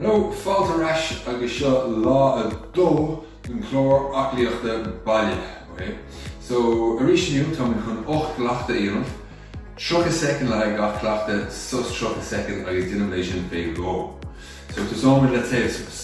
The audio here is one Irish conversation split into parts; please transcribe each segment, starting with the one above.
Hello, fáilte ar ais agus seo lá a dó den chlár aclaíochta baile, ok? So, arís inniu táimid chun 8 gcleachtadh a dhéanamh, 30 soicind le haghaidh gach cleachtaidh, sos 30 soicind agus déanfaimid é sin fé dhó. So, tosóimid le téamh suas.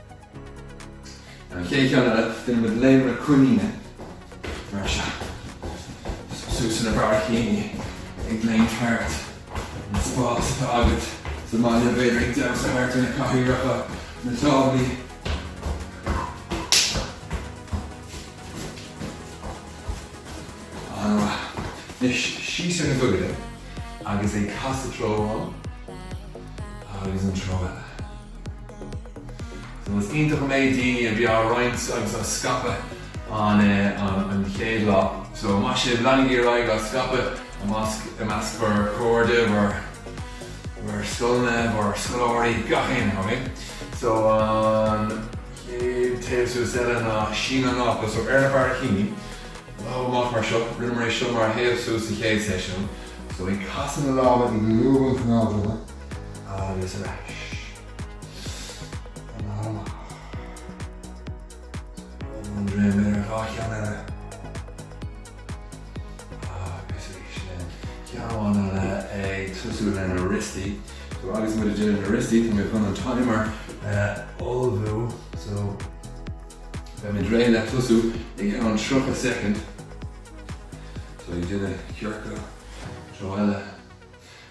An chéad cheann eile, déanaimid léim na coiníne, mar seo. Suas ar na barraicíní, ag léim thart. An spás atá agat sa mbaile, b'fhéidir ag damhsa thart ar na cathaoireacha, na táblaí. An-mhaith. Anois, síos ar na gogaide agus ag casadh treo amháin agus an treo eile. Is iontach an méid daoine a bhí á roinnt agus á scaipeadh an chéad lá so maith sibh. Leanaigí ar aghaidh á scaipeadh i measc bhur gcairde, bhur scoileanna, bhur scoláirí, gach aon rud, okay? So an chéad téamh suas eile ná sín an ápa, so ar na barraicíní, lámh amach mar seo, rinneamar é seo mar théamh suas sa chéad seisiún, so ag casadh na lámha, ag lúbadh an chnámh droma, agus ar ais ina halla. Bhuail an dréim air ar dhá cheann eile agus arís linn. Ceann amháin eile ag tosú leis na rostaí. So agus muid ag déanamh na rostaí, tá mé chun an timer a ullmhú. So beidh muid réidh le tosú ag an 30 soicind. So ag déanamh ciorcal, treo eile.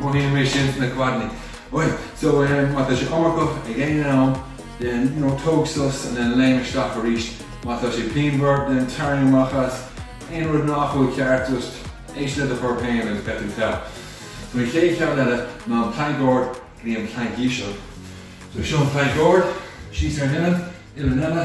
Mothaíonn mé sin sna codanna. Bhuel, so má tá sé iomarcach ag aon am then you know tóg sos and then léim isteach arís. Má tá sé pianmhar then tarraing amach as. Aon rud nach bhfuil ceart just éist le do chorp féin agus beidh tú togha. So an chéad cheann eile ná an plank ard go dtí an plank íseal. So seo an plank ard, síos ar an uillinn, uillinn eile.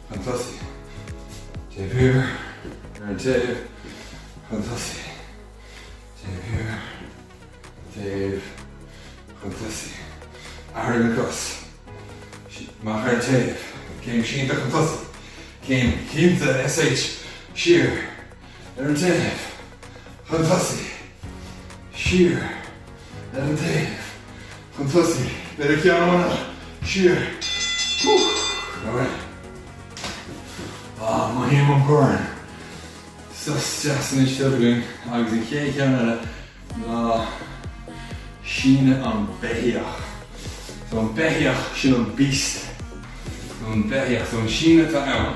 chun tosaigh, taobh thiar, ar an taobh, chun tosaigh, taobh thiar, an taobh, chun tosaigh, athrú na gcos, amach ar an taobh, céim sínte chun tosaigh, céim shínte sh, siar, ar an taobh chun tosaigh, siar ar an taobh chun tosaigh. Beir a ceann amach, siar. Maith sibh, an corn, sos deas anois againn agus an chéad ceann eile ná síneadh an bheithígh. So an beithíoch, sin an beast, an beithíoch. So an síneadh atá ann.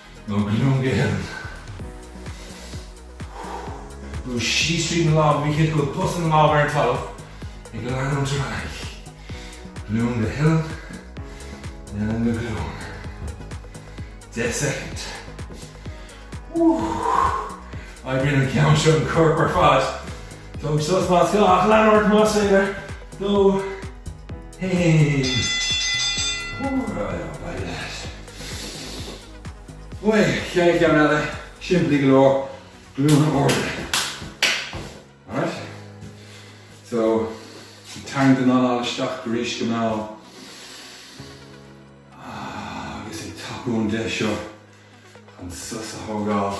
lámh go dtí lámh, brú síos tríd na lámha, ní thiocfadh an post ina lámha ar an talamh ag an leanúint ar aghaidh, go Dún Geimhin, nó go Dún. 10 soicind. Oibríonn an ceann seo an corp ar fad. Tóg sos más gá, ach lean ort más féidir. 2, 1. Éirigh leat. An chéad cheann eile, simplí go leor, glúine arda. Alright? So, tarraingt an anáil isteach arís go mall. Agus ag tapú an deis seo chun sos a thógáil.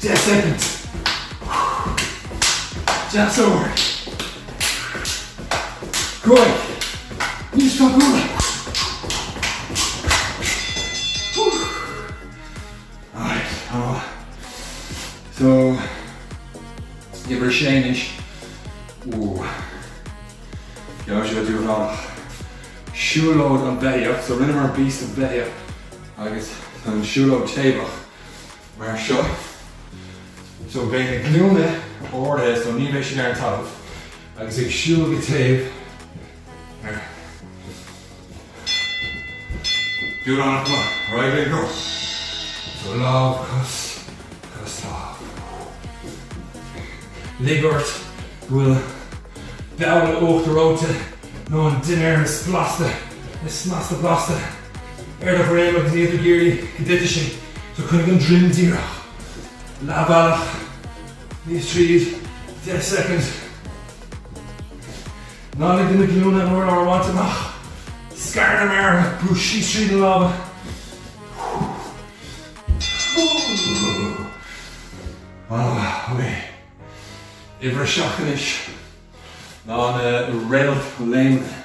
10 soicind. Deas ard. 5 níos tapúla. Alright, an-mhaith. So, uimhir 6 anois. Ooh. Beidh sé diabhalach. Siúlóid an beithíoch. So, rinneamar beast an bheithíoch agus tá an siúlóid taobhach. mar seo. So beidh na glúine ardaithe so ní bheidh siad ar an talamh agus ag siúl go taobh ar Do it on a clock. Alright, big girl. So lámh cos cos lámh. Lig ort go bhfuil babhla uachtar reoite nó an dinnéar is blasta is snasta blasta. ar do dhroim agus níl tú ag iarraidh go dtitfidh sé so coinnigh an droim díreach, leath bealach síos tríd, 10 soicind. Ná lig do na glúine an urlár a bhaint amach, scar na méara, brú síos tríd na lámha. Uimhir a seacht anois ná na réalt léimeanna.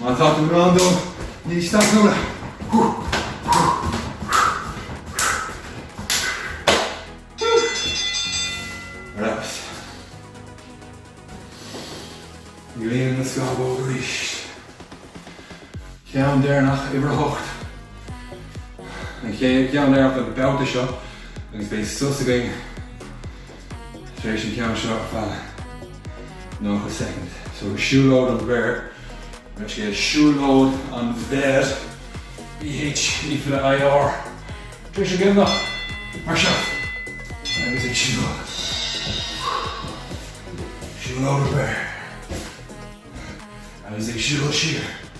Má tá tú in ann dul níos tapúla, ar fheabhas. Líon na scamhóga arís. Ceann deireanach uimhir a hocht. An ceann deireanach den bhabhta seo agus beidh sos againn. Tar éis an ceann seo ar feadh 90 soicind. So siúlóid an bhéir, nó scéal siúlóid an bhéir, B H É fada I R. Tar éis an gcoimneach, mar seo, agus ag siúl. Siúlóid an bhéir. Agus ag siúl siar.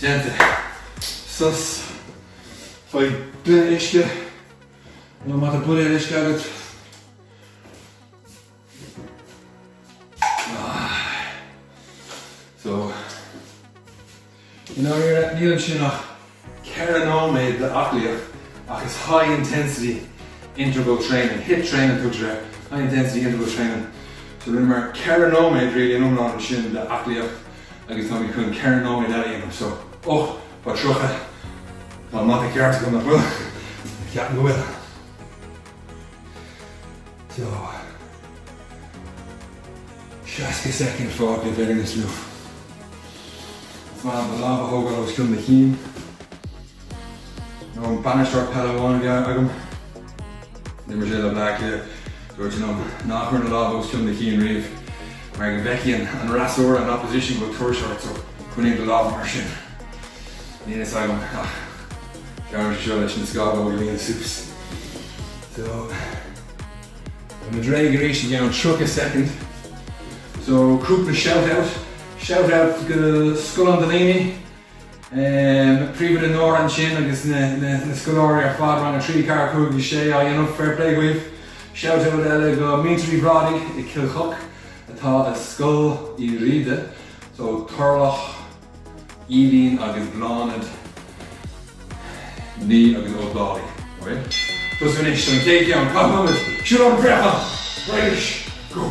Déanta. Sos. Faigh gloine uisce nó má tá buidéal uisce agat. So. I ndáiríre, níl ansin ach ceithre nóiméad d'aclaíocht ach is high intensity interval training, hit training a tugtar air, high intensity interval training. So rinneamar ceithre nóiméad really in iomlán ansin d'aclaíocht. Agus táimid chun ceithre nóiméad eile a dhéanamh so. Och, tá tríocha. Tá an mata ceart agam, nach bhfuil? Ceapaim go bhfuil. So. Seasca soicind fágtha i bhfírinne seo. Is maith an lámh a thógáil os cionn do chinn. Nó an bainisteoir peile amháin a bhí agam. D'imir sé le Bleá Cliath. Dúirt sé liom ná cuir na lámha os cionn do chinn riamh mar go bhfeicfidh an fhreasúra, an opposition, go bhfuil tuirse ort so coinnigh do lámha mar sin. Níl a fhios agam ach deirimse seo leis na scamhóga a líonadh suas so táimid réidh arís i gceann 30 soicind so cúpla shout out, shout out go scoileanna do dhaoine. na príomhoide Nóra ansin agus na scoláirí ar fad, rang a trí, a ceathair, a cúig, a sé á dhéanamh, fair play dhaoibh. Shout out eile go muintir Uí Bhrádaigh i gCill Choc atá i Scoil Uí Riada, so Turlough, Aoibhín agus Bláthnaid Ní agus Ó Dálaigh. Tosú anois don chéad cheann, caith ionad, siúl amach an préachán! Raidish! Go!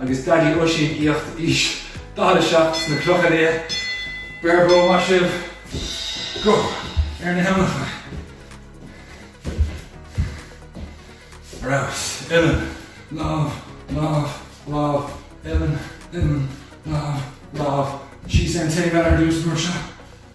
Agus Daidí Oisín aíocht aois 47 sna Clocha Liatha, beir bua maith sibh! Go ar na huillinneacha. Ar fheabhas. Uilleann. Lámh. Lámh. Lámh. Uilleann. Uilleann. Lámh. Lámh. Síos ar an taobh eile ar dtús, mar seo.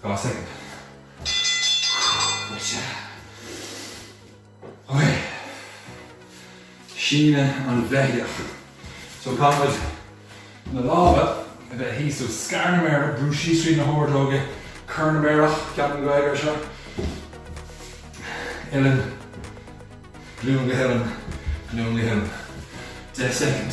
2 soicind. Buailte. Ok. Síneadh an bheithíoch. So caithfimid na lámha a bheith thíos, so scar na méara, brúigh síos tríd na hordóga, cor na méarach, ceapaim go bhfeicfear seo. Uilleann, glúin go huilleann, glúin go huilleann. 10 soicind.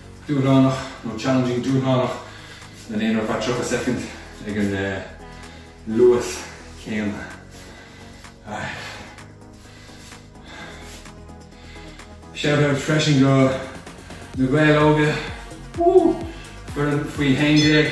dúshlánach nó challenging dúshlánach le linn ar feadh 30 soicind ag an luas céanna. Shout out freisin go Na Gaeil Óga, woo! foireann faoi 11!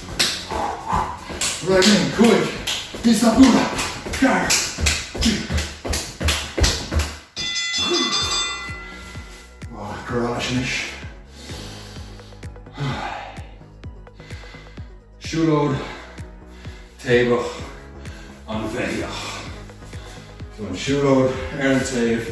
Roinn 5, Is a bua gar. Garage-ish. Siúlóid taobhach an bheithíoch. So an siúlóid ar an taobh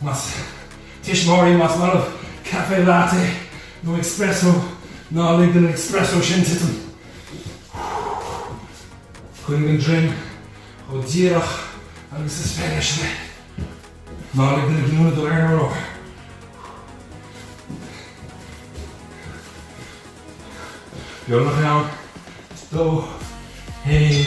Más tuismitheoirí, más maith libh café latte nó expresso ná lig don expresso sin titim. Coinnigh an droim chomh díreach agus is féidir leis. Ná lig do na glúine dul ar an urlár. Beagnach ann, is dó fhéin.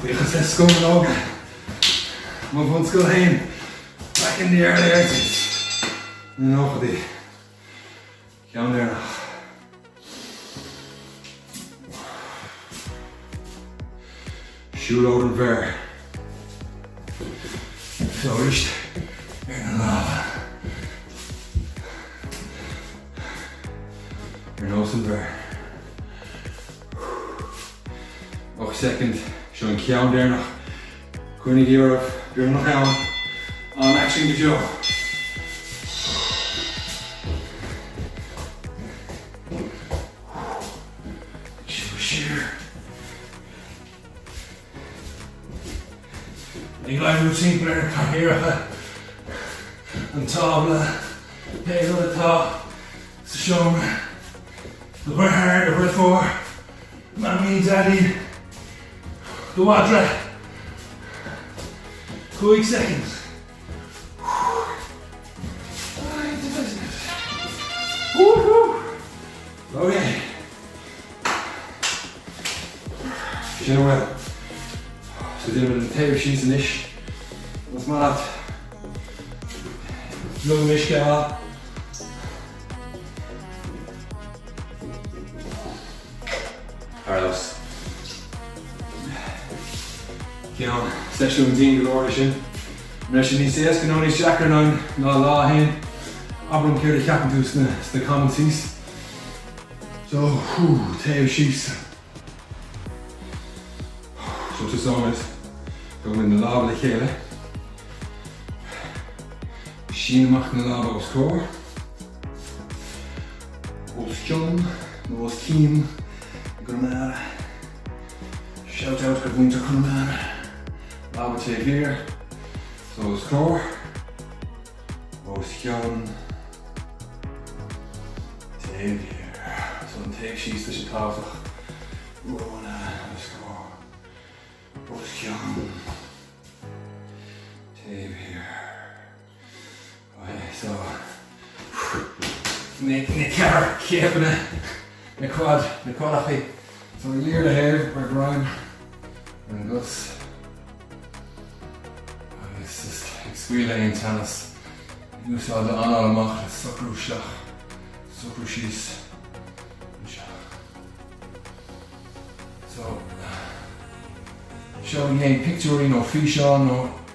Buíochas le scoláirí óga mo bhunscoile féin back in the early 80s, na nóchaidí, ceann deireanach. Siúlóid an bhéar. Fós ar na lámha. Ar nós an bhéar. Ocht soicind, seo an ceann deireanach. Coinnígí oraibh, beagnach ann. An-aicsean go deo. Siúil siar. Ag laghdú timpeall ar na cathaoireacha an tábla. Pé rud atá. sa seomra do dheartháir, do dheirfiúr, Mamaí, Daidí, do mhadra, 5 soicind. Sin bhfuil Tá dé an taobh sí san isis Mas má Lu mis go Thar cionn. Seisiún dian go leor é sin. An raibh sé níos éasca nó níos deacra inniu ná lá a haon? Abair liom céard a cheapann tú sna sna comments thíos? So, hú, téamh síos. So tús áit go bhfuil na lámha le chéile. Sín amach na lámha os comhair, os cionn nó as cionn i gConamara. Shout out do mhuintir Chonamara. Lámha taobh thiar, so os comhair. os cionn taobh thiar so an téamh síos tá sé tábhachtach romhainn os comhair os cionn taobh thiar ok so na ceithre chéimeanna. Ag Craid na Craidhfí. So we lear na thaobh mar greim ar an gcos agus just ag scaoileadh aon teannas ag úsáid a anáil amach le socrú isteach, socrú síos nó isteach. So, seolaigí aon pictiúirí nó físeáin nó.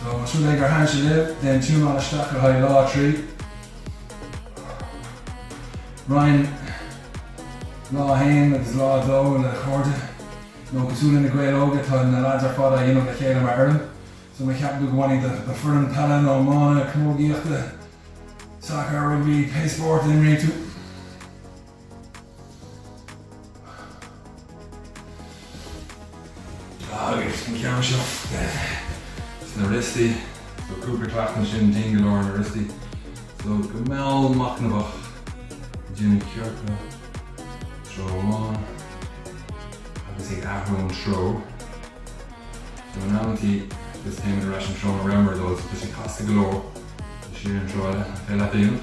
Tá súil agam gur thaitin sé libh, déan tiúnáil isteach le haghaidh Lá 3. Roinn Lá 1 agus Lá 2 le cairde nó cosúil le Na Gaeil Óga, tá na leaids ar fad á dhéanamh le chéile mar fhoireann so má cheapann tú go mbainfidh do foireann peile nó iomána, camógaíochta, sacair, rugbaí, pé spórt a imríonn tú. Agus an ceann seo sna riostaí. So cúpla cleachtadh ansin dian go leor ar na riostaí. So go mall machnamhach déanamh ciorcal treo amháin agus ag athrú an treo. So in amantaí just téim ar ais an treo a rabhamar dul so tá sé casta go leor. So siar an treo eile, an féidir leat a dhéanamh.